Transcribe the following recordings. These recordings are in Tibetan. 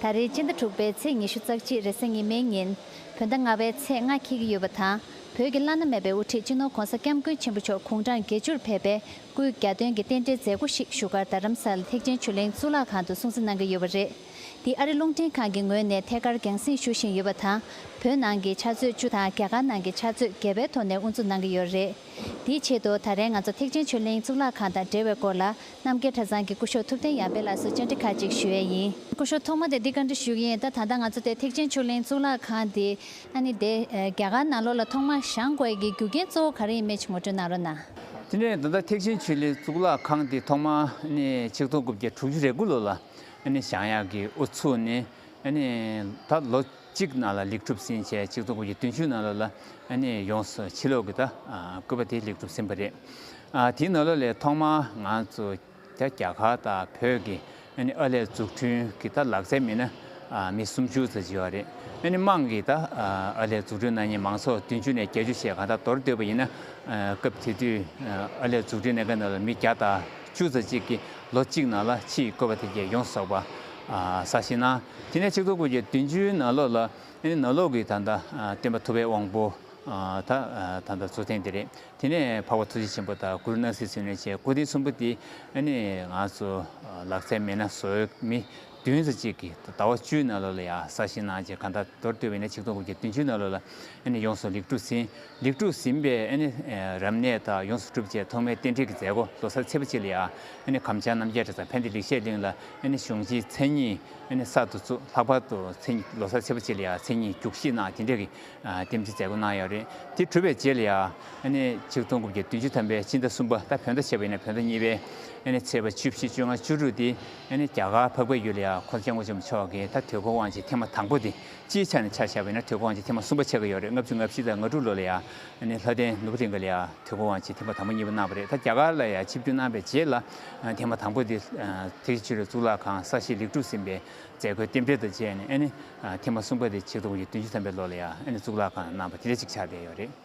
ད་རེས་སྤྱི་ཟླ་དྲུག་པའི་ཚེས་ཉི་ཤུ་རྩ་གཅིག་རེས་གཟའ་ཉི་མའི་ཉིན། བོད་ཟླ་ལྔ་བའི་ཚེས་ལྔ་འཁེལ་གྱི་ཡོད་པ་དང། བོད་ཀྱི་བླ་ན་མེད་པའི་དབུ་ཁྲིད་སྤྱི་ནོར་གོང་ས་སྐྱབས་མགོན་ཆེན་པོ་མཆོག་གུང་ཁྲང་དགེ་བཅུར་ཕེབས་པའི་སྐུའི་རྒྱ་སྟོན་གྱི་རྟེན་འབྲེལ་མཛད་སྒོ་ཞིག་བཞུགས་སྒར་རྡ་རམ་ས་ལ་ཐེག་ཆེན་ཆོས་གླིང་གཙུག་ལག་ཁང་དུ་སྲུང་བརྩི་གནང་གི་ཡོད་པ་རེད། འདི་ཨ་རི་རླུང་འཕྲིན་ཁང་གི་ངོས་ནས་ཐད་ཀར་རྒྱང་བསྲིངས་ཞུ་བཞིན་ཡོད་པ་དང། བོད་ནང་གི་ཕྱག་མཛོད་བཅུ་དང་རྒྱ་གར་ནང་གི་ཕྱག་མཛོད་བརྒྱད་པའི་ཐོག་ནས་དབུ་འཛུགས་གནང་གི་ཡོད་རེད། དེའི་ཆེད་དུ་ད་རེས་ང་ཚོ་ཐེག་ཆེན་ཆོས་གླིང་གཙུག་ལག་ཁང་དང་འབྲེལ་བའི་སྐོར་ལ་རྣམ་རྒྱལ་གྲྭ་ཚང་གི་སྐུ་ཞོགས་ཐུབ་བསྟན་ཡར་འཕེལ་ལགས་སུ་བཅར་འདྲི་ཁག་ཅིག་ཞུ་ཡས་ཡིན། སྐུ་ཞོགས་ཐོག་མ་དེ་འདི་ག་འདྲི་ཞུགས་ཡིན་ད་ད་ལྟ་ང་ཚོ་དེ་ཐེག་ཆེན་ཆུ་གླིང་གཙུག་ལག་ཁང་དེ་ཨ་ནི་དེ་རྒྱ་གར་ནང་ལོག་ལ་ཐོག་མ་བཞང་དགོས་ཀྱི་རྒྱུ་རྐྱེན་གཙོ་བོ་ག་རེ་ཡིན་མེད་ཅིག་ངོ་སྤྲོད་གནང་རོགས་གནང། དེ་ནས་ད་ལྟ་ཐེག་ཆེན་ཆུ་གླིང་གཙུག་ལག་ཁང་དེ་ཐོག་མ་ཨ་ནི་ཆིག་སྟོང་དགུ་བརྒྱ་དྲུག་ཅུ་རེ་དགུ་ལོ་ལ་ཨ་ནི་བཞང་ཡག་གི་ཨུ་ཚུགས་ནི་ཨ་ནི་ད་ལོ་གཅིག་གནང་ལ་ལེགས་གྲུབ་ཟིན་བྱས་གཅིག་གཙོ་བོ་ཡི་དོན་ཆུ་ནང་ལོ་ལ་ནི་ཡོངས་སུ་ཕྱི་ལོག་གི་ད་བསྐུལ་བ་དེ་ལེགས་གྲུབ་ཟིན་པ་རེད། དེའི་ནང་ལོ་ལས་ཐོག་མར་ང་ཚོ་རྒྱ་གར་དང་བོད་ཀྱི་ཨ་ལས་འཛུགས་སྐྲུན་གྱི་ད་ལག་རྩལ་མི་སྣ་མི་སུམ་ཅུ་ཙ་བྱེ་བ་རེད། དམངས་ཀྱིས་ད་ཨ་ལས་འཛུགས་སྐྲུན་གནང་ཉིན་མང་ཚོགས་བདུན་ཅུ་ནས་བརྒྱད་ཅུ་ཞེས་གང་དག་འདོར་འདོད་པ་ཡིན་ན། སྐབས་དེ་དུས་ཨ་ལས་འཛུགས་སྐྲུན་གནང་མཁན་ནང་ལོ་མི་བརྒྱ་དང་བཅུ་ཙ་གཅིག་གིས་ལོ་གཅིག་ནང་ལ་ཕྱི་ཡི་བསྐུལ་བ་དེ་བརྒྱད་ཡོངས་གསོག་པ། ས་ཞིང་ནང་དེ་ནས་ཆིག་ཐོ་དགུ་བརྒྱ་བདུན་ཅུའི་ནང་ལོགས་ལ་ནི་ནང་ལོགས་ཀྱི་ད་ལྟ་སྟོན་པ་ཐུབ་པའི་དབང་པོ་དག་ད་ལྟ་འཚོ་ཐེངས་འདི་རེད་དེ་ནས་འཕགས་པ་ཐུགས་རྗེ་ཆེན་པོ་དང་གུ་རུ་སྣང་སྲིད་ཚུལ་གནས་བཅས་སྐུ་དེ་གསུམ་པོ་དེ་ནི་ང་ཚོ་ལག་རྩལ་མེད་ན་བཟོས་མི་བདུན་ཚོ་གཅིག་གི་ཟླ་བ་བཅུའི་ནང་ལོགས་ལ་ཡང་གསར་བཞེངས་གནང་རྗེས་གང་ད་དོར་ལྟོས་བས་ནི་ཆིག་ཐོ་དགུ་བརྒྱ་བདུན་ཅུའི་ནང་ལོགས་ལ་ནི་ཡོངས་སུ་ལེགས་གྲུབ་ཟིན། ལེགས་གྲུབ་ཟིན་པའི་རབ་གནས་དག་ཡོངས་སུ་གྲུབ་བཅས་ཐོག་མའི་རྟེན་འབྲེལ་གྱི་མཛད་སྒོ་ལོ་སར་ཚེས་པ་བཅས་ལ་ཡང་གམ་བྱང་རྣམ་རྒྱལ་གྲྭ་ཚང་ཕན་བདེ་ལེགས་བཤད་གླིང་ལ་གཞུང་བཞིན་མཚན་ཉིད་གསར་དུ་བཙུགས་ལྷག་པར་དུ་ལོ་སར་ཚེས་པ་བཅས་ལ་ཡང་མཚན་ཉིད་རྒྱུགས་གཞིས་གནང་དེ་འབྲེལ་གྱི་རྟེན་འབྲེལ་མཛད་སྒོ་གནང་ཡོད་རེད་དེ་གྲུབ་པའི་རྗེས་ལ་ཡང་ཆིག་སྟོང་དགུ་བརྒྱ་བདུན་ཅུ་ཐམ་པའི་སྤྱི་ཟླ་གསུམ་པ་ཟླ་བོད་ཟླ་བཞི་བའི་བོད་ཟླ་གཉིས་པའི་ཚེས་པ་བཅུ་བཞི་བཅོ་ལྔ་བཅུ་དྲུག་སྟེ་རྒྱ་གར་འཕགས་པའི་ཡུལ་ལ་ཡང་འཁོར་བཅས་མགོན་བྱམས་མཆོག་གིས་ད་ཐོས་ཁོ་དབང་ཆེན་ཐེངས་མ་དང་པོ་དེ་སྤྱིའི་ཆ་ནས་ཆ་བཞག་པས་ན་དུས་དགོང་གཅིག་ཐེངས་མ་གསུམ་པ་ཆགས་ཀྱི་ཡོད་རེད་ལྔ་བཅུ་ང་བཞི་དང་ང་དྲུག་ལོ་ལ་ཡང་ནི་ལྷ་ལྡན་ནུབ་རིང་ག་ལ་ཡང་དུས་དགོང་གཅིག་ཐེངས་མ་དང་པོ་གཉིས་པ་གནང་བ་རེད་ད་རྒྱ་གར་ལ་ཡང་ཆིབས་བསྒྱུར་གནང་པའི་རྗེས་ལ་ཐེངས་མ་དང་པོ་དེ་ཐེག་ཆེན་ཆོས་རའི་གཙུག་ལག་ཁང་གསར་བཞེངས་ལེགས་གྲུབ་ཟིན་པའི་མཛད་སྒོའི་རྟེན་འབྲེལ་དང་བཅས་ནས་ཨ་ནི་ཐེངས་མ་གསུམ་པ་དེ་ཆིག་སྟོང་གཉིས་བདུན་ཅུ་ཐམ་པའི་ལོ་ལ་ཡང་ཨ་ནི་གཙུག་ལག་ཁང་གནང་བ་དེ་འདྲ་གཅིག་ཆགས་བསྡད་ཡོད་རེད།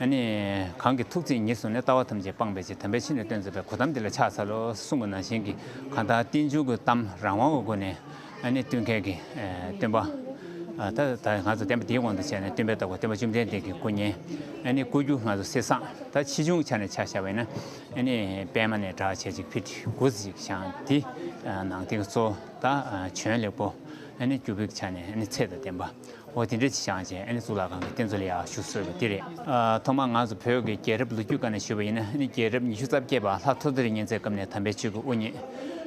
ཨ་ནི། གང་གི་ཐུགས་བརྩེས་ཉིད་བཟུང་ནས་ལྟ་བ་ཐམས་ཅད་སྤངས་པའི་ཕྱིར་དམ་པའི་ཆོས་ནི་སྟོན་མཛད་པའི་གོ་ཐམས་འདི་ལ་ཕྱག་འཚལ་ལོ། གསུང་གི་ནང་བཞིན་གྱི་གང་དག་རྟེན་འབྱུང་གི་གཏམ་རང་དབང་གི་སྒོ་ནས་ཨ་ནི་སྟོན་མཁས་ཀྱིས་སྟོན་པ། ད་ལྟ་ང་ཚོ་བསྟན་པ་འདིའི་དབང་དུ་བྱས་ནས་སྟོན་པའི་བདག་པོ་སྟོན་པ་བཅོམ་ལྡན་འདས་ཀྱི་སྐུ་བརྙན་ཨ་ནི་བཀོད་རྒྱུ་ང་ཚོ་གསེར་སྲང་ད་ཕྱིས་ཆུང་ཆ་ནས་ཆགས་བཞག་བས་ན་ཨ་ནི་པད་མ་ནས་དྲག་ཆས་ཅིག་ཕུལ་ཏེ་མགུར་ཚིག་ཅིག་བཞག་འདི་ནང་བསྟན་གཙོ་བོ་ད་བྱོན་ལེགས་པོ་ཨ་ནི་སྐྱུར་པོའི་ཆ་ནས་ཨ་ནི་ཚེ་དང་ལྡན་པ། ཨོ་དེ་འདྲ་ཅི་བྱང་ཆེན་ཨ་ནི་གཙུག་ལག་ཁང་གི་རྟེན་གཙོ་ལ་ཡག་ཞུ་གསོལ་བ་དེ་རེད། ཐོག་མར་ང་ཚོ་བོད་ཀྱི་རྒྱལ་རབས་ལོ་རྒྱུས་བཀའ་ནས་ཞུས་པ་ཡིན་ན་ཨ་ནི་རྒྱལ་རབས་ཉི་ཤུ་རྩ་བརྒྱད་པ་ལྷ་ཐོ་ཙེ་རི་གཉན་ཚའི་སྐབས་ནས་དམ་པའི་ཆོས་ཀྱི་དབུ་བརྙེས།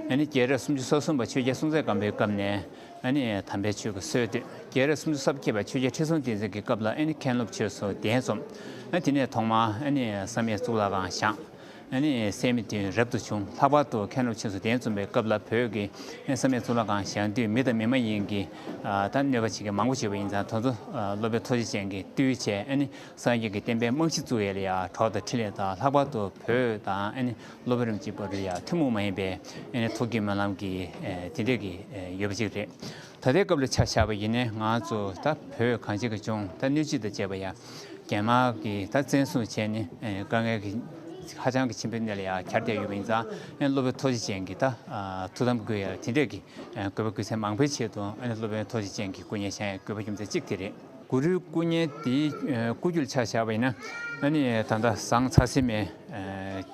ཨ་ནི་རྒྱལ་རབས་སུམ་ཅུ་སོ་གསུམ་པ་ཆོས་རྒྱལ་སྲོང་བཙན་སྒམ་པོའི་སྐབས་ནས་ཨ་ནི་དམ་པའི་ཆོས་ཀྱི་སྲོལ་བཏོད། རྒྱལ་རབས་སུམ་ཅུ་རྩ་བརྒྱད་པ་ཆོས་རྒྱལ་ཁྲི་སྲོང་ལྡེ་བཙན་གྱི་སྐབས་ལ་ཨ་ནི་མཁན་སློབ་ཆོས་སུ་གདན་འཛོམས། དེ་ནས་ཐོག་མར་ཨ་ནི་བསམ་ཡས་གཙུག་ལག་ཁང་བཞེངས། སད་མི་དུས་རབ་ཏུ་བྱུང་ལྷག་པར་དུ་མཁན་སློབ་ཆེན་བསུ་གཏན་བཙུན་པའི་སྐབས་ལ་བོད་ཀྱི་ས་མེད་གཙུག་ལག་ཁང་བཞེངས་དུས་མི་དང་མི་མ་ཡིན་གྱི་ད་གནོད་པ་བྱེད་མཁན་མང་པོ་བྱུས་པ་ཡིན་ཙང་དོལ་ཚོ་སློབ་དཔོན་ཐོ་ཆེ་ཅན་གྱིས་བཏུལ་བྱས་སངས་རྒྱས་ཀྱི་བསྟན་པའི་རྨང་གཞི་བཙུགས་ཡས་ལ་ཡ་གྲོགས་དང་འཕྲིན་ལས་དང་ལྷག་པར་དུ་བོད་དང་སློབ་དཔོན་རིམ་གཅིག་པ་རུ་ཡ་ཐུན་མོང་མ་ཡིན་པའི་ཐུགས་ཀྱི་སྨོན་ལམ་གྱིས་དེ་འདྲས་ཀྱི་ཡོད་པ་ཅིག་རེད། ད་ལྟའི་སྐབས་ལ་ཆ་བཞག་པ་ཡིན་ནའི་ང་ཚོ་ད་བོད་གངས་ཅན་གྱི་ལྗོངས་ད་སྣོད་བཅུད་དང་བཅས་པ་ཡང་རྒྱལ་དམག་གིས་ད་བཙན་བཟུང་བྱས་ནས་དཀའ་ངལ་གྱི་ཧ་ཅང་གི་ཆེན་པོའི་གནས་ལ་ཡང་གྱར་བསྡད་ཡོད་པ་ཡིན་ཙང་སློབ་དཔོན་ཐོ་ཇེ་ཅན་གྱིས་ད་ཐུགས་དམ་དགོས་ཡ་དེ་འདྲས་ཀྱི་དགོས་པ་དགོས་ཚད་མང་པོའི་ཆེད་དུ་སློབ་དཔོན་ཐོ་ཇེ་ཅན་གྱི་སྐུ་བརྙན་བཞེངས་དགོས་པ་རྒྱུ་མཚན་གཅིག་དེ་རེད། གུ་རུའི་སྐུ་བརྙན་དེའི་སྐུ་རྒྱུ་ལ་ཆ་བཞག་པ་ཡིན་ན་ནི་ད་ཟངས་ཚ་བསིལ་མའི་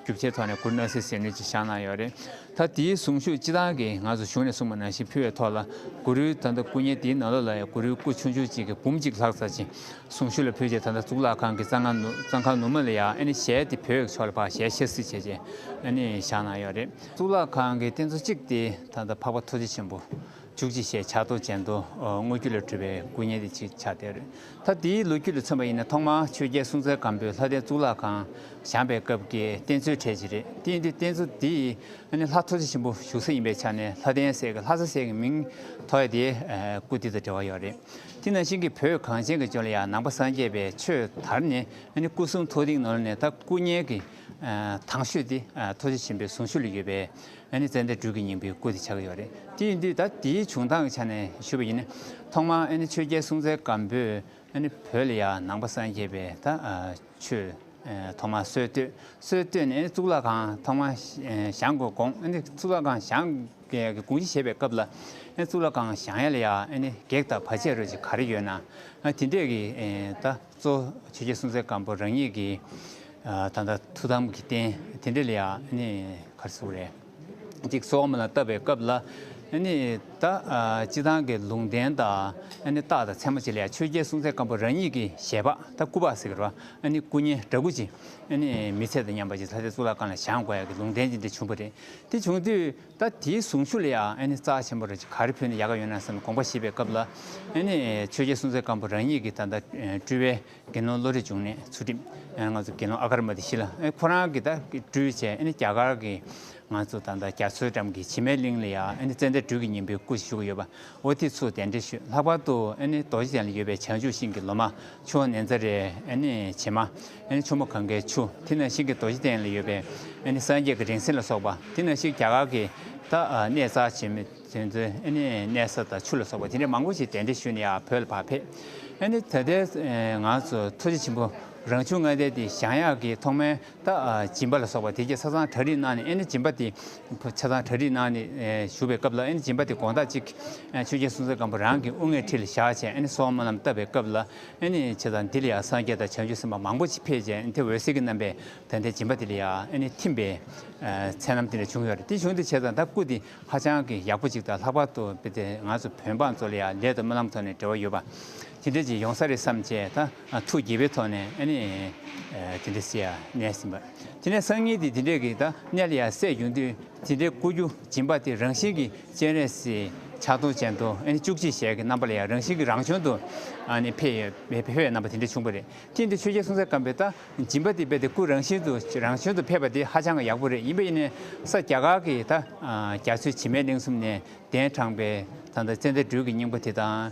རྒྱུ་ཆའི་ཐོག་ནས་གུ་རུ་སྣང་སྲིད་ཟིལ་གནོན་གྱི་ཞག་གནང་ཡོད་རེད། ད་དེའི་གཟུངས་གཞུག་སྤྱི་དང་གི་ང་ཚོ་གཞུང་ནས་གསུངས་པ་ནང་བཞིན་ཕུལ་བའི་ཐོག་ལ་གུ་རུའི་ད་ལྟ་སྐུ་བརྙན་དེའི་ནང་ལོ་ལ་ཡང་གུ་རུའི་སྐུ་ཆུང་ཆུང་གཅིག་གི་འབུམ་གཅིག་ལྷག་ཚར་ཅིང་གཟུངས་གཞུག་ལ་ཕུལ་རྗེས་ད་ལྟ་གཙུག་ལག་ཁང་གི་གཙང་ཁང་གཙང་ཁང་ནུབ་མ་ལ་ཡང་ཨ་ནི་ཞལ་དེ་བོད་ཕྱོགས་ལ་ཕག་ཞལ་ཕྱེ་སྲིད་བྱས་རྗེས་ཨ་ནི་བཞག་གནང་ཡོད་རེད། གཙུག་ལག་ཁང་གི་རྟེན་གཙོ་གཅིག་དེ་ད་ལྟ་འཕགས་པ་ཐུགས་རྗེ་ཆེན་པོ་བཅུ་གཅིག་ཞེས་བྱ་རྡོ་ཅན་དུ་དངོས་རྒྱུ་ལས་གྲུབ་པའི་སྐུ་བརྙེས་ཏེ་ཅིག་ཆར་དེར་ལྷ་དེའི་ལོ་རྒྱུས་ལ་མཚོན་པ་ཡིན་ན་ཐོག་མར་ཆོས་རྒྱལ་སྲོང་བཙན་སྒམ་པོས་ལྷ་ལྡན་གཙུག་ལག་ཁང་བཞེངས་པའི་སྐབས་ཀྱི་རྟེན་གཙོའི་གྲས་ཅིག་རེད་དེ་ཡིན་དུས་རྟེན་གཙོ་དེ་ནི་ལྷ་ཐུགས་རྗེ་ཆེན་པོ་བཞུགས་ས་ཡིན་པའི་ཆ་ནས་ལྷ་ལྡན་སྲས་ཀྱི་ལྷ་ས་སྲས་ཀྱི་མིང་ཐོ་ཡ་དེའི་སྐུ་དེ་དང་འབྲེལ་བ་ཡོད་རེད་དེ་ནང་བཞིན་གྱི་བོད་གངས་ཅན་གྱི་ཅོ་ལེ་ཡ་ནང་པ་སངས་རྒྱས་པའི་ཆོས་དར་ནས་སྐུ་གསུང་ཐུགས་རིང་ནོར་ལ་ནས་ད་སྐུ་བརྙན་གྱི་ཐང་ཤོད་དེ་ཐུགས་རྗེ་ཆེན་པོའི་གཟུངས་ཤོད་ལ་ཡོད་པས། ང་ནི་ཙནྡན་སྦྲུལ་གྱི་སྙིང་པོའི་སྐུ་དེ་ཆགས་ཀྱི་ཡོད་རེད། དེ་ཡིན་དུས་ད་དེའི་བྱུང་སྟངས་ཀྱི་ཆ་ནས་ཞུས་པ་ཡིན། ཐོག་མར་ཆོས་རྒྱལ་སྲུང་བཙན་སྒམ་པོས་བོད་ལ་ཡང་ནང་པ་སངས་རྒྱས་པའི་ད་ཆོས་ཐོག་མར་སྲོལ་བཏོད། སྲོལ་བཏོད་ནས་གཙུག་ལག་ཁང་ཐོག་མར་བཞེངས་དགོས་དགོངས། གཙུག་ལག་ཁང་བཞེངས་དགོངས་ཅི་བྱེད་པའི་སྐབས་ལ། གཙུག་ལག་ཁང་བཞེངས་ཡ་ལ་ཡང་བགེགས་དང་བར་ཆད་རོལ་ཅིག་ག་རེ་ཡོད་ན་དེ་འདྲས་ཀྱིས་ད། གཙོ་བྱས་རྗེ་གསུམ་རྩེ་སྐམ་པོ་རང་ཉིད་ཀྱི་ད་ལྟ་ཐུགས་དམ་གྱི་རྟེན་དེ་འདྲ་ལ་ཡང་གར་ཟུག་རེ་གཅིག་སོ་མ་ལ་བཏབ་པའི་སྐབས་ལ་ད་སྤྱི་ཐང་གི་ལུང་བསྟན་དང་རྟགས་དང་མཚན་མ་བྱས་ལ་ཡང་ཆོས་རྒྱལ་གསུམ་རྩེ་སྐམ་པོ་རང་ཉིད་ཀྱི་ཞལ་འབག་ད་སྐུ་འབག་ཟེར་བ་སྐུ་བརྙན་འདྲ་སྐུ་ཅིག་མི་ཚད་དོ་སྙམ་པ་ཅིག་ལྷ་སའི་གཙུག་ལག་ཁང་ལ་བཞེངས་དགོས་ཡ་གི་ལུང་བསྟན་ཅིག་འདི་བྱུང་བ་རེད་དེ་བྱུང་དུས། ད་དེའི་གཟུངས་ཆུ་ལ་ཡང་ཨནི་རྩ་ཆེན་པོ་རེ་ག་རེ་ཕུལ་ན་ཡག་ག་ཡོད་ན་བསམ་དགོངས་པ་བཞེས་པའི་སྐབས་ལ་ཨནི་ཆོས་རྒྱལ་སྲོང་བཙན་སྒམ་པོ་རང་ཉིད་ཀྱིས་ད་ལྟ་སྤྲུལ་བའི་དགེ་སློང་བློ་རིག་འབྱུང་གནས་ཚུལ་ཁྲིམས་ང་ཚོ་དགེ་སློང་ཨ་ཀར་མ་དེ་བཞི་ལ་ཁོ་རང་གིས་ད་སྤྲུལ་བྱས་ཨནི་རྒྱ་གར་གྱི་ང་ཚོ་ད་ལྟ་རྒྱ་མཚོའི་འགྲམ་གྱི་བྱེ་མའི་གླིང་ལ་ཡང་ཨནི་ཙནྡན་སྦྲུལ་གྱི་སྙིང་པོའི་སྐུ་ཞིག་བཞུགས་ཡོད་པ་བོ་དེ་ཚོ་གདན་འདྲེན་ཞུས་ལྷག་པར་དུ་རྡོ་རྗེ་གདན་ལ་ཡོད་པའི་བྱང་ཆུབ་ཤིང་གི་ལོ་མ་ཆུ་ནེ་ཛ་རེ་བྱེ་མ་ཆུ་མོ་གང་གའི་ཆུ་དེ་ན་ཤིང་གི་རྡོ་རྗེ་གདན་ལ་ཡོད་པའི་སངས་རྒྱས་ཀྱི་རིང་བསྲེལ་ལ་སོགས་པ་དེ་ན་ཤིག་རྒྱ་གར་གྱི་གནས་ཛ་བྱེ་མ་དེ་ཚོའི་གནས་ས་དང་ཆུ་ལ་སོགས་པ་དེ་འདྲ་མང་པོ་ཞིག་གདན་འདྲེན་ཞུས་ནས་ཡང་བོད་ལ་བག་ཕེབས། ད་ལྟའི་ང་ཚོ་ཐུགས་རྗེ་ཆེན་པོ་རང་བྱུང་ལྔ་ལྡན་འདི་ཞང་གཡག་གི་ཐོག་མའི་ད་སྦྱིན་པ་ལ་སོགས་པ་དེ་སྐད་ཆ་ཚང་གྲ་རིག་གནང་ནས་ཨེ་ནི་སྦྱིན་པ་དེ་ཆ་ཚང་གྲ་རིག་གནང་ནས་བཞུགས་པའི་སྐབས་ལ་ཨེ་ནི་སྦྱིན་པ་དེ་དགོངས་དག་ཅིག་ཆོས་རྒྱལ་སྲོང་བཙན་སྒམ་པོ་རང་གི་དབུ་སྔས་ཁྲི་ལ་བཞག་བྱས་ཨེ་ནི་སོག་མོ་རྣམས་བཏབ་པའི་སྐབས་ལ་ཨེ་ནི་བྱས་ཙང་འདི་ལ་ཡང་སངས་རྒྱས་དང་བྱང་ཆུབ་སེམས་དཔའ་མང་པོ་ཅིག་ཕེབས་བྱས་ཨེ་ནི་དེ་འོད་ཟེར་གྱི་རྣམ་པས་ད་ལྟའི་སྦྱིན་པ་དེ་ལ་ཡང་ཨེ་ནི་ཐིམ་པའི་མཚན་རྣམས་འདི་ལ་བྱུང་ཡོད་རེད་དེ་བྱུང་འདི་བྱས་ཙང་ད་སྐུ་དེ་ཧ་ཅང་གི་ཡག་པོ་ཅིག་དང་ལྷག་པར་དུ་དཔེ་དེ་ང་ཚོ་བོད་འབངས་ཚོ་ལ་ཡང་ལས་དང་རྨི་ལམ་ཐོག་ནས་འབྲེལ་བ་ཡོད་པ། དེ་འདྲ་ཅིག་ཡོང་ས་རེད་བསམ་བྱས་ད་ཐུགས་དགྱེས་པའི་ཐོག་ནས་ཨ་ནི། དེ་འདྲ་སེ་ཡ་གནས་ཟིན་པ། དེ་ནས་སང་ཉིན་དེ་དེ་འདྲས་ཀྱིས་ད་གནས་ལ་ཡ་སད་བྱུང་དུས་དེ་འདྲའི་སྐུ་རྒྱུ་སྦྱིན་པ་དེ་རང་བཞིན་གྱིས་སྤྱན་རས་གཟིགས་ཕྱག་སྟོང་ཅན་དུ་ཨ་ནི་བཅུ་གཅིག་ཞལ་གྱི་རྣམ་པ་ལ་ཡང་རང་བཞིན་གྱིས་རང་བྱུང་དུ་ཨ་ནི་འཕེལ་བའི་རྣམ་པ་དེ་འདྲ་བྱུང་བ་རེད་ཀྱེ་འདི་ཆོས་རྒྱལ་སྲོང་བཙན་སྒམ་པོས་ད་སྦྱིན་པ་དེ་འབེབས་ཏེ་སྐུ་རང་བཞིན་དུ་རང་བྱུང་དུ་ཕེབས་པ་དེ་ཧ་ཅང་གི་ཡག་པོ་རེད་ཡིན་པ་ཡིན་ནས་ས་སྐྱ་ཁག་གི་ད་རྒྱ་མཚོའི་བྱེ་མའི་གླིང་གསུམ་ནས་གདན་དྲངས་པའི་ད་ད་ཙནྡན་སྦྲུལ་གྱི་སྙིང་པོ་དེ་དང།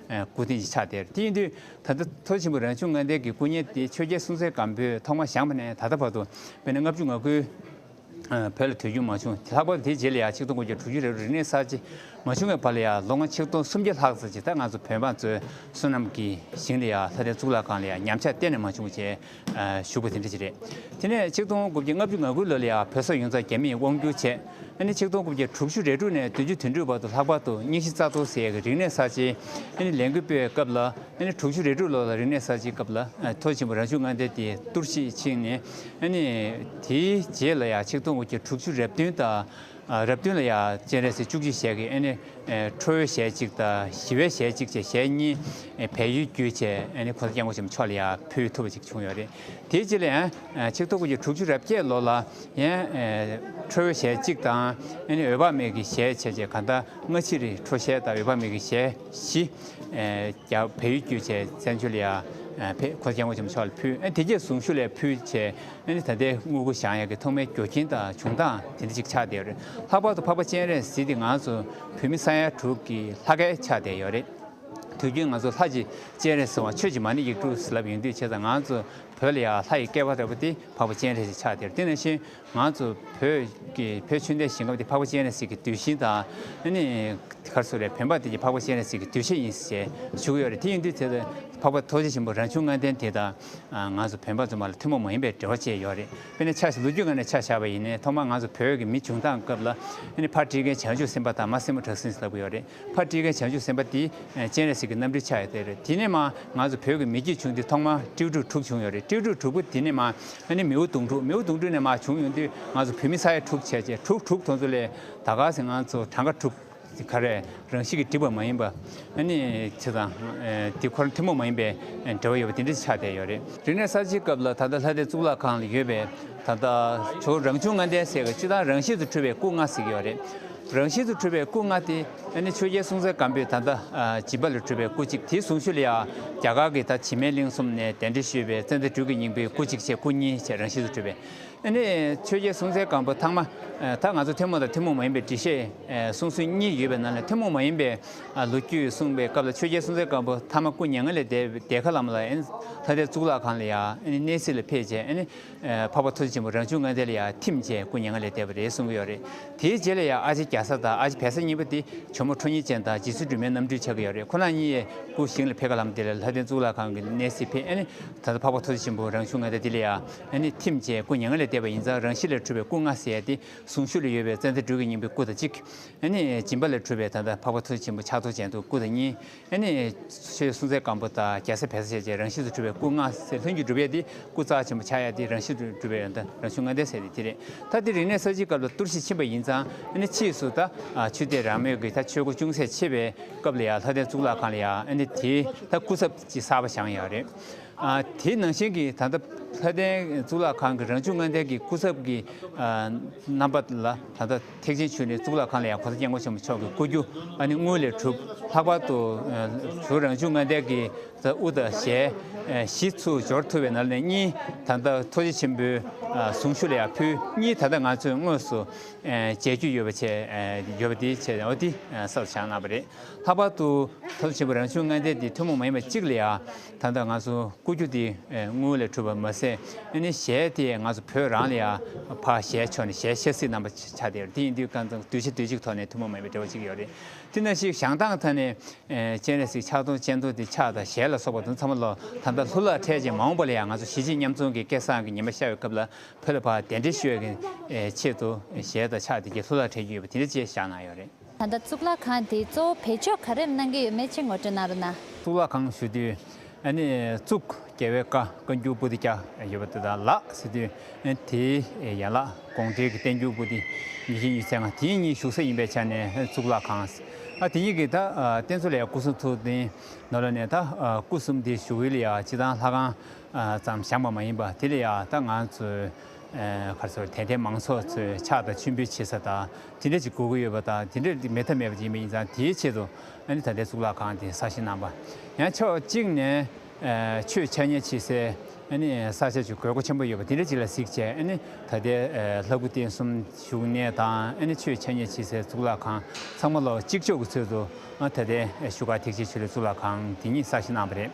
སྐུ་རྟེན་གྱི་ཕྱག་དེར་དེ་ཡིན་དུས་ད་ལྟ་མཐོ་ཆེན་པོ་རང་བྱུང་ལྔ་ལྡན་གྱི་སྐུ་བརྙན་དེ་ཆོས་རྒྱལ་སྲོང་བཙན་སྒམ་པོས་ཐོག་མར་བཞེངས་པ་ནས་ད་ལྟ་བར་དུ་བོད་ནས་ལྔ་བཅུ་ང་དགུའི་བོད་ལ་དུས་རྒྱུན་མ་བྱུང་ལྷག་པར་དུ་དེའི་རྗེས་ལ་ཡང་ཆིག་སྟོང་དགུ་བརྒྱ་དྲུག་ཅུ་རེ་རུ་རིག་གནས་གསར་བརྗེ་མ་བྱུང་བའི་བར་ལ་ཡང་ལོ་ང་ཆིག་སྟོང་སུམ་བརྒྱ་ལྷག་ཙམ་གྱི་ད་ང་ཚོ་བོད་འབངས་ཚོའི་བསོད་ནམས་ཀྱི་ཞིང་ལ་ཡང་ལྷ་རྟེན་གཙུག་ལག་ཁང་ལ་ཡང་ཉམས་ཆག་གཏན་ནས་མ་བྱུང་བ་བཅས། ཞུ་བ་དེ་འདྲ་ཞིག་རེད། དེ་ནས་ཆིག་སྟོང་དགུ་བརྒྱ་ལྔ་བཅུ་ང་དགུ་ལོ་ལ་ཡང་བོད་སོག་ཡོངས་རྫོགས་རྒྱ་མིས་དབང་བསྒྱུར་བྱས། ཨ་ནི་ཆིག་སྟོང་དགུ་བརྒྱ་དྲུག་ཅུ་རེ་དྲུག་ནས་བདུན་ཅུ་དོན་དྲུག་བར་དུ་ལྷག་པར་དུ་རྙིང་གཞི་རྩ་གཏོར་ཟེར་ཡས་ཀྱི་རིག་གནས་གསར་བརྗེའི་ཨ་ནི་ལས་འགུལ་སྤེལ་བའི་སྐབས་ལ་ཨ་ནི་དྲུག་ཅུ་རེ་དྲུག་ལོར་ལ་རིག་གནས་གསར་བརྗེའི་སྐབས་ལ་མཐོ་ཆེན་པོ་རང་བྱུང་མངའ་སྡེ་དེ་གཏོར་བཤིག་ཕྱིན་ནས་ཨ་ནི་དེའི་རྗེས་ལ་ཡང་ཆིག་སྟོང་དགུ་བརྒྱ་དྲུག་ཅུ་རེ་བདུན་དང། རབ་བསྟུན་ལ་ཡང་སྤྱན་རས་གཟིགས་བཅུ་གཅིག་ཞལ་གྱི་ནི་ཁྲོ་བོའི་ཞལ་གཅིག་དང་ཞི་བའི་ཞལ་གཅིག་ཅེས་ཞལ་གཉིས་བལ་ཡུལ་བརྒྱུད་ཆེ་ནི་གོ་ས་སྐྱབས་མགོན་ཆེན་པོ་མཆོག་ལ་ཡང་ཕུལ་ཐུབ་པ་ཅིག་བྱུང་ཡོད་རེད་དེའི་རྗེས་ལ་ཡང་ཆིག་ཐོ་གོ་རྒྱུ་དྲུག་ཅུ་རབ་བརྒྱད་ལོ་ལ་ཡང་ཁྲོ་བོའི་ཞལ་གཅིག་དང་ནི་འོད་དཔག་མེད་ཀྱི་ཞལ་ཕྱེད་ཅེས་གང་ཟླ་སྔ་ཕྱི་རི་ཁྲོ་ཞལ་དང་འོད་དཔག་མེད་ཀྱི་ཞལ་བཞི་རྒྱ་བལ་ཡུལ་བརྒྱུད་ཆེ་བཙན་བྱོལ་ལ་ཡང་ཕེབས་གོ་ས་སྐྱབས་མགོན་ཆེན་པོ་མཆོག་ལ་ཕུལ་དེ་རྗེས་གཟུངས་བཞུགས་ལས་ཕུལ་ཆེ་གནས་འདི་ད་ལྟའི་དངུལ་སྒོ་བཞག་ཡག་གི་ཐོག་མའི་འགྱོ་ཁྱིན་དང་བྱུང་སྟངས་དེ་འདྲ་ཅིག་ཆགས་བསྡད་ཡོད་རེད་ལྷག་པར་དུ་འཕགས་པ་སྤྱན་རས་གཟིགས་དེ་ང་ཚོ་བོད་མི་ས་ཡ་དྲུག་གི་ལྷ་སྐལ་ཆགས་བསྡད་ཡོད་རེད་དུས་རྒྱུན་ང་ཚོ་ལྷ་ཅིག་སྤྱན་རས་སོང་བ་ཆོས་ཀྱི་མ་ཎི་ཡིག་དྲུག་ཟེར་ལབ་ཡོང་དུས་བྱས་ཙང་ང་ཚོ་བོད་ལ་ཡ་ལྷ་ཡི་སྐལ་བ་རེད་པོ་དེ་འཕགས་པ་སྤྱན་རས་གཟིགས་ཆགས་བསྡད་ཡོད་དེ་ནས་བཞིན་ང་ཚོ་བོད་བོད་ཆོས་འདས་ཞིང་ཁམས་དེ་འཕགས་པ་སྤྱན་རས་གཟིགས་ཀྱི་དུས་ཤིང་དང་ནི་གར་སོ་རེད་བོན་པ་དེ་འཕགས་པ་སྤྱན་རས་གཟིགས་ཀྱི་དུས་ཤིང་ཡིན་ཞེས་བཞུགས་ཡོད་རེད་དེ་ཡིན་དུས་དེ་འཕགས་པ་རྡོ་རྗེ་ཆེན་པོ་རང་བྱུང་ལྔ་ལྡན་དེ་དང། ང་ཚོ་བོད་འབངས་ཚོ་མ་ལ་ཐུན་མོང་མ་ཡིན་པའི་འབྲེལ་བ་བཅས་ཡོད་རེད་དཔེར་ན་ཆགས་ལུགས་རྒྱུད་ལྔ་ནས་ཆགས་བཞག་པ་ཡིན་ནའི་ཐོག་མར་ང་ཚོ་བོད་ཀྱི་མི་བྱུང་སྟངས་སྐབས་ལ་ཕར་བཀྲིས་མཁན་བྱང་ཆུབ་སེམས་དཔའ་དང་མར་སྲིན་མོ་བྲག་སྲིན་ཟེར་ལབ་གི་ཡོད་རེད་ཕར་བཀྲིས་མཁན་བྱང་ཆུབ་སེམས་དཔའ་དེ་སྤྱན་རས་གཟིགས་ཀྱི་རྣམ་སྤྲུལ་ཆགས་ཡོད་དེ་རེད་དེ་ནས་མ་ང་ཚོ་བོད་ཀྱི་མི་རྒྱུད་བྱུང་དེ་ཐོག་མར་སྤྲེའུ་དྲུག་དྲུག་བྱུང་ཡོད་རེད་སྤྲེའུ་དྲུག་དྲུག་པོ་དེ་ནས་མ་མིའུ་དུང་དྲུག་མིའུ་དུང་དྲུག་ནས་མ་བྱུང་ཡོང་དུས་ང་ཚོ་བོད་མི་ས་ཡ་དྲུག་ཆད་ཆད་དྲུག་དྲུག་དོན་ཚོ་ལས་ད་ག་ཟེ་ང་ཚོ་གྲངས་ཀ་དྲུག། ཟི་ཁ་རས་རང་བཞིན་གྱིས་བསྒྲིབས་པ་མ་ཡིན་པ། ནི། ཚེ་དང། དེ་འཁོར་ཐུན་མོང་མ་ཡིན་པའི་འབྲེལ་བ་ཡོད་པ་དེ་འདྲའི་ཆ་དེ་ཡོད་རེད། རིག་གནས་གསར་བརྗེའི་སྐབས་ལ་ད་ལྟ་ལྷ་སྡེ་གཙུག་ལག་ཁང་ལ་ཡོད་པའི་ད་ལྟ་ཇོ་རང་བྱུང་ལྔ་ལྡན་ཟེར་བའི་སྤྱི་དང་རང་བཞིན་དུ་འཁྲུལ་བའི་སྐུ་ལྔ་ཟིག་ཡོད་རེད། རང་བཞིན་དུ་འཁྲུལ་བའི་སྐུ་ལྔ་དེ། ནི་ཆོས་རྒྱལ་སྲོང་བཙན་སྒམ་པོས་ད་ལྟ། བྱིས་པ་ལས་གྲུབ་པའི་སྐུ་གཅིག་དེའི་གཟུངས་ཆུ་ལ་ཡང། རྒྱ་གར་གྱི་ད་བྱིས་སྨན་གླིང་གསུམ་ནས་གདན་འདྲེན་ཞུས་པའི་ཙནྡ་སྦྲུལ་གྱི་སྙིང་པོའི་སྐུ་གཅིག་བཅས་སྐུ་གཉིས་བཅས་རང་བཞིན་དུ་འཁྲུལ་བའི། ཨ་ནི་ཆོས་རྒྱལ་སྲོང་བཙན་སྒམ་པོ་ཐང་མ་ད་ང་ཚོ་ཐུན་མོང་དང་ཐུན་མོང་མ་ཡིན་པའི་འདྲི་བཤད་གསུང་སྲོལ་གཉིས་ཡོད་པའི་ནང་ནས་ཐུན་མོང་མ་ཡིན་པའི་ལོ་རྒྱུས་གསུང་པའི་སྐབས་ལ་ཆོས་རྒྱལ་སྲོང་བཙན་སྒམ་པོ་ཐང་མ་སྐུ་མྱ་ངན་ལས་འདས་པའི་ཁ་ལམ་ལ་ཨ་ནི་ལྷ་སྡེ་གཙུག་ལག་ཁང་ལ་ཡང་ཨ་ནི་གནས་གཟིགས་ལ་ཕེབས་རྗེས་ཨ་ནི་འཕགས་པ་ཐུ་ཆེན་པོ་རང་བྱུང་ལྔ་ལྡན་ལ་ཡང་ཐིམ་རྗེས་སྐུ་མྱ་ངན་ལས་འདས་པ་རེད་གསུང་གི་ཡོད་རེད་དེའི་རྗེས་ལ་ཡང་ཨ་ཕྱི་རྒྱ་ས་དང་ཨ་ཕྱི་བལ་ས་གཉིས་པོ་དེ་བྱོ་མོ་ཁྲོ་གཉིས་ཅན་དང་རྗེ་བཙུན་སྒྲོལ་མའི་རྣམ་སྤྲུལ་ཆགས་ཀྱི་ཡོད་རེད་ཁོ་ན་གཉིས་ཡས་སྐུ་བཞེངས་ལ་ཕེབས་ཁ་ལམ་དེ་ལ་ལྷ་སྡེ་གཙུག་ལག་ཁང་གི་གནས་གཟིགས་ཕེབས་ཨ་ནི་ད་ལྟ་འཕགས་པ་ཐུ་ཆེན་པོ་རང་བྱུང་ལྔ་ལྡན་དེ་ལ་ཡང། ཨ་ནི་ཐིམ་བཅས་སྐུ་མྱ་ངན་ལས་འདས་པ་ཡིན་ཙང་རང་བཞིན་ལས་འཁྲུལ་བའི་སྐུ་ལྔ་ཟད་དེ་ཟུང་ཤུགས་ལས་ཡོལ་བའི་ཙནྡན་སྦྲུལ་གྱི་སྙིང་པོའི་སྐུ་དང་གཅིག། ཨ་ནི་སྦྱིན་པ་ལས་འཁྲུལ་བའི་ད་ལྟ་འཕགས་པ་མཐུ་ཆེན་པོ་ཕྱག་རྡོར་ཅན་དུ་སྐུ་དང་གཉིས། ཨ་ནི་ཆོས་གསུང་ཚད་སྐམ་པོ་དང་རྒྱལ་སྲས་བལ་ས་ཆད་བཅས་རང་བཞིན་དུ་འཁྲུལ་བའི་སྐུ་ལྔ་ཟད་ལྷུན་གྱིས་གྲུབ་ཡས་ཏེ་སྐུ་རྩ་ཆེན་པོ་ཕྱག་གཡས་ཏེ་རང་བཞིན་དུ་གྲུབ་པའི་ཡོན་ཏན་རང་བྱུང་ལྔ་ལྡན་ཟད་དེ་དེ་རེད་ད་དེ་རིང་ནས་ས་བྱིའི་སྐབས་ལ་གཏོར་བཤིག་ཕྱིན་པ་ཡིན་ཙང་ཨ་ནི་ཕྱིས་སུ་ད་ཆུ་སྟེ་རང་མོས་ཀྱི་ད་ཆོས་སྒོ་ཅུང་ཟད་ཕྱེ་བའི་སྐབས་ལ་ཡང་ལྷ་ལྡན་གཙུག་ལག་ཁང་ལ་ཡང་ཨ་ནི་དེའི་ད་སྐུ་ཚབ་ཀྱི་གསར་པ་བཞེངས་ཡས་རེད། དེའི་ནང་བཞིན་གྱི་ད་ལྟ་ལྷ་ལྡན་གཙུག་ལག་ཁང་གི་རང་བྱུང་ལྔ་ལྡན་གྱི་སྐུ་ཚབ་ཀྱི་རྣམ་པ་ལ་ད་ལྟ་ཐེག་ཆེན་ཆོས་ནི་གཙུག་ལག་ཁང་ལ་ཡང་གོ་ས་སྐྱབས་མགོན་ཆེན་པོ་མཆོག་གི་སྐུ་རྒྱུ་ཨ་ནི་དངུལ་ལས་གྲུབ་ལྷག་པར་དུ་བོད་རང་བྱུང་ལྔ་ལྡན་གྱི་དབུ་དང་ཞལ་བཞི་ཚུར་སྦྱོར་ཐུབ་པའི་ནང་ནས་གཉིས་ད་ལྟ་ཐུགས་རྗེ་ཆེན་པོའི་གཟུངས་བཞུགས་ལ་ཡང་ཕུལ་གཉིས་ད་ལྟ་ང་ཚོས་དངོས་སུ་མཇལ་རྒྱུ་ཡོད་པ་ཆེ་ཡོད་པ་དེའི་ཆེད་དུ་ས་རུ་བཞག་གནང་བ་རེད་ལྷག་པར་དུ་ཐུགས་རྗེ་ཆེན་པོ་རང་བྱུང་ལྔ་ལྡན་འདི་ཐུན་མོང་མ་ཡིན་པ་གཅིག་ལ་ཡང། ད་ལྟ་ང་ཚོ་སྐུ་རྒྱུ་དེ་དངུལ་ལས་གྲུབ་པ་མ་ཟད་ཨེ་ནི་ཞལ་དེ་ང་ཚོ་བོད་རང་ལ་ཡང་ཕ་ཞལ་ཆོག་ནས་ཞལ་ཤེར་སྲིད་རྣམ་པ་ཆགས་དེ་དེ་ཡིན་དུས་སྐལ་བཟང་དུས་ཆེ་དུས་གཅིག་ཐོག་ནས་ཐུན་མོང་མེད་པའི་འབྲེལ་བ་གཅིག་ཡོད་རེད་དེ་ན་ཞིག་ཞང་ཐང་ཐང་ནས་སྤྱན་རས་གཟིགས་ཕྱག་སྟོང་སྤྱན་སྟོང་དེ་ཕྱག་དང་ཞལ་ལ་སོགས་པ་དུ་ཚང་མ་ལོ་ད་ལྟ་ལྷུ་ལག་འཕྲད་ཅིང་མ་འོངས་པ་ལ་ཡང་ང་ཚོ་གཞིས་བྱེས་མཉམ་འཛོམས་ཀྱི་སྐལ་བཟང་གི་ཉི་མ་ཤར་བའི་སྐབས་ལ་བོད་ལ་ཕ་གདན་འདྲེན་ཞུ་བའི་ཆེད་དུ་ཞལ་དང་ཕྱག་དེ་གྱི་ལྷུ་ལག་འཕྲད་རྒྱུ་ཡོད་པ་དེ་འདྲ་བཅས་བཞག་གནང་ཡོད་རེད། ད་ལྟ་གཙུག་ལག་ཁང་དེའི་གཙོ་བོ་བེད་སྤྱོད་ག་རེམ་གནང་གི་ཡོད་མེད་ཅིག་ངོ་སྤྲོད་གནང་རོགས་གནང། གཙུག་ལག་ཁང་ཞུ་དུས་ཨ་ནི་གཙུག་རྒྱལ་བའི་བཀའ་བཀའ་འགྱུར་པོ་ཏི་བརྒྱ་ཡོད་པ་དེ་དག་ལ་ཟེར་དུས་དེའི་ཡན་ལག་དགོངས་འགྲེལ་གྱི་བསྟན་འགྱུར་པོ་ཏི་ཉིས་བཞི་ཉིས་ཚན་ལྔ་དེ་གཉིས་ཞུགས་ས་ཡིན་པའི་ཆ་ནས་གཙུག་ལག་ཁང་ཨ་དེ་གཉིས་ཀྱི་ད་བསྟན་གཙོ་ལས་སྐུ་གསུང་ཐུགས་རྟེན་ནོར་ལ་ནས་ད་སྐུ་གསུམ་དེ་ཞུ་ཡུལ་ཡང་སྤྱི་དང་ལྷ་ཁང་ཙམ་བཞག་པ་མ་ཡིན་པ་དེ་ལ་ཡང་ད་ང་ཚོས་ཁར་ཚོར་དད་ལྡན་མང་ཚོགས་ཚོས་ཕྱག་དང་མཆོད་འབུལ་བྱེད་ས་དང་དེ་འདྲ་ཅིག་དགོས་ཀྱི་ཡོད་པ་དང་དེ་འདྲ་མེད་ཐབས་མེད་པ་ཅིག་ཡིན་པ་ཡིན་ཙང་དེའི་ཆེད་དུ་ཨ་ནི་ད་ལྟའི་གཙུག་ལག་ཁང་དེ་གསར་བཞེངས་གནང་པ་ཡང་ཕྱོགས་གཅིག་ནས་ཆོས་འཆད་ཉན་བྱེད་སའི་ཨ་ནི་ས་ཆ་ཆུ་དགོས་མཁོ་ཆེན་པོ་ཡོད་པ་དེ་འདྲ་ཅིག་ལ་གཟིགས་བྱས་ཨ་ནི་ད་ལྟའི་ལྷ་སྐུ་རྟེན་གསུམ་བཞུགས་གནས་དང་ཨ་ནི་ཆོས་འཆད་ཉན་བྱེད་སའི་གཙུག་ལག་ཁང་ཚང་མ་ལོ་གཅིག་ལྕོགས་ཀྱི་ཚུལ་དུ་ད་ལྟའི་བཞུགས་སྒར་ཐེག་ཆེན་ཆོས་ལུགས་གཙུག་ལག་ཁང་དེ་ཉིད་གསར་བཞེངས་གནང་བ་རེད།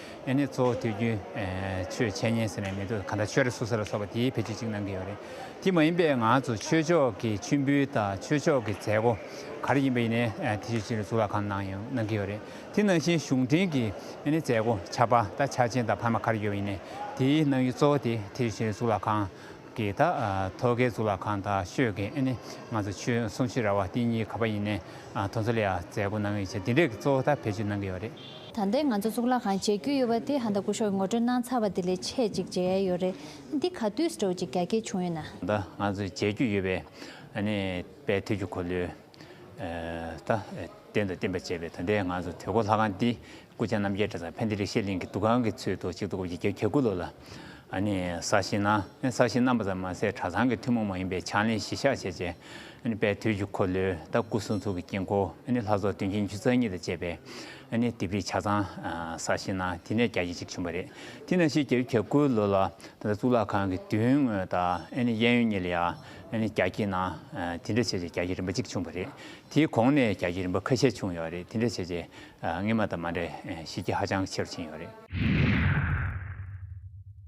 ཨེ་ནས་གཙོ་བོ་དུས་རྒྱུན་ཆོས་འཆད་ཉན་ཟེར་ནས་མི་འདུག་ག་འདྲ་ཆོས་ར་སུ་ས་ར་སོགས་པ་དེའི་ཕལ་ཆེར་གཅིག་གནང་གི་ཡོད་རེད་དེ་མ་ཡིན་པའི་ང་ཚོ་ཆོས་ཕྱོགས་ཀྱི་མཆོད་འབུལ་དང་ཆོས་ཕྱོགས་ཀྱི་མཛད་སྒོ་ག་རེ་ཡིན་པ་ཡིན་ནའི་དེ་ཆོས་ཕྱི་རུ་གཙུག་ལག་ཁང་ནང་ཡང་གནང་གི་ཡོད་རེད་དེ་ནང་བཞིན་གཞུང་འབྲེལ་གྱི་ཨེ་ནས་མཛད་སྒོ་ཆར་པ་དང་འཆར་ཅན་དང་བར་མ་ག་རེ་ཡོད་པ་ཡིན་ནའི་དེའི་གནང་ཡུལ་གཙོ་བོ་དེ་དེ་ཆོས་ཕྱི་རུ་གཙུག་ལག་ཁང་གི་དང་ཐོག་ཁའི་གཙུག་ལག་ཁང་དང་ཤོད་ཀྱི་ཨེ་ནས་ང་ཚོ་ཆོས་གསུང་ཕྱི་ར་བ་དེ་གཉིས་ག་པ་ཡིན་ནའི་ཐོག་མཚོ་ལས་ཡ་མཛད་སྒོ་གནང་ཡོད་ཆེ་དེ་འདྲའི་གཙོ་བོ་དང་ཕལ་ཆེར་གནང་གི་ཡོད་རེད། ད་ལྟའི་ང་ཚོ་གཙུག་ལག་ཁང་མཇལ་རྒྱུ་ཡོད་པ་དེ་ཧ་ད་སྐུ་ཤོག་ངོ་སྤྲོད་གནང་ཚར་བ་དེ་ལས་ཆེས་ཅིག་མཇལ་ཡས་ཡོད་རེད་འདི་ག་དུས་སུ་འགྲོ་ཅིག་རྒྱ་སྐད་བྱུང་ཡོད་ན། ད་ལྟ་ང་ཚོ་མཇལ་རྒྱུ་ཡོད་པའི་ནི་དཔལ་ཐེག་ཆུ་འཁོར་ལོའི་ད་རྟེན་དང་བརྟེན་པར་བཅས་པའི་ད་ལྟའི་ང་ཚོ་དུས་འཁོར་ལྷ་ཁང་འདི་སྐུ་ཚེ་རྣམ་རྒྱལ་གྲྭ་ཚང་ཕན་བདེ་རིག་ཤེས་གླིང་གི་འདུ་ཁང་གི་ཚུལ་དུ་གཅིག་ཏུ་བསྐོར་བརྒྱུད་གྱ་དགུ་ལོ་ལ་ནི་གསར་བཞེངས་གནང། གསར་བཞེངས་གནང་པ་ཙམ་མ་ཟད་གྲྭ་ཚང་གི་ཐུན་མོང་མ་ཡིན་པའི་ཕྱག་ལེན་གཞི་བཞག་བྱས་རྗེས་པའི་དུས་ཀྱི་འཁོར་ལོའི་ལྟ་སྐུལ་གསུང་ཚུགས་ཀྱི་དཀྱིལ་འཁོར་ལྷ་ཚོགས་བདུན་ཞིང་བཅུ་རྩ་གཉིས་དང་བཅས་པའི་ལྡེབས་རིས་ཆ་ཚང་གསར་བཞེངས་གནང་དེ་ནས་རྒྱ་ཁྱི་ཞིག་བྱུང་བ་རེད་དེ་ནས་ཕྱིས་རྒྱ་ཁྱི་གྱ་དགུའི་ལོ་ལ་གཙུག་ལག་ཁང་གི་མདུན་ངོས་དང་གཡས་གཡོན་གཉིས་ལ་ཡང་རྒྱ་ཁྱི་གནང་དེ་འདྲ་བྱས་རྗེས་རྒྱ་ཁྱི་རིམ་པ་གཅིག་བྱུང་བ་རེད་དེའི་གོང་ནས་རྒྱ་ཁྱི་རིམ་པ་ཁ་ཤས་བྱུང་ཡོད་རེད་དེ་འདྲ་བྱས་རྗེས་སྔེ་མ་དང་མ་འདྲེས་གཞི་རྒྱ་ཧ་ཅང་ཆེ་རུ་ཕྱིན་ཡོད་རེད།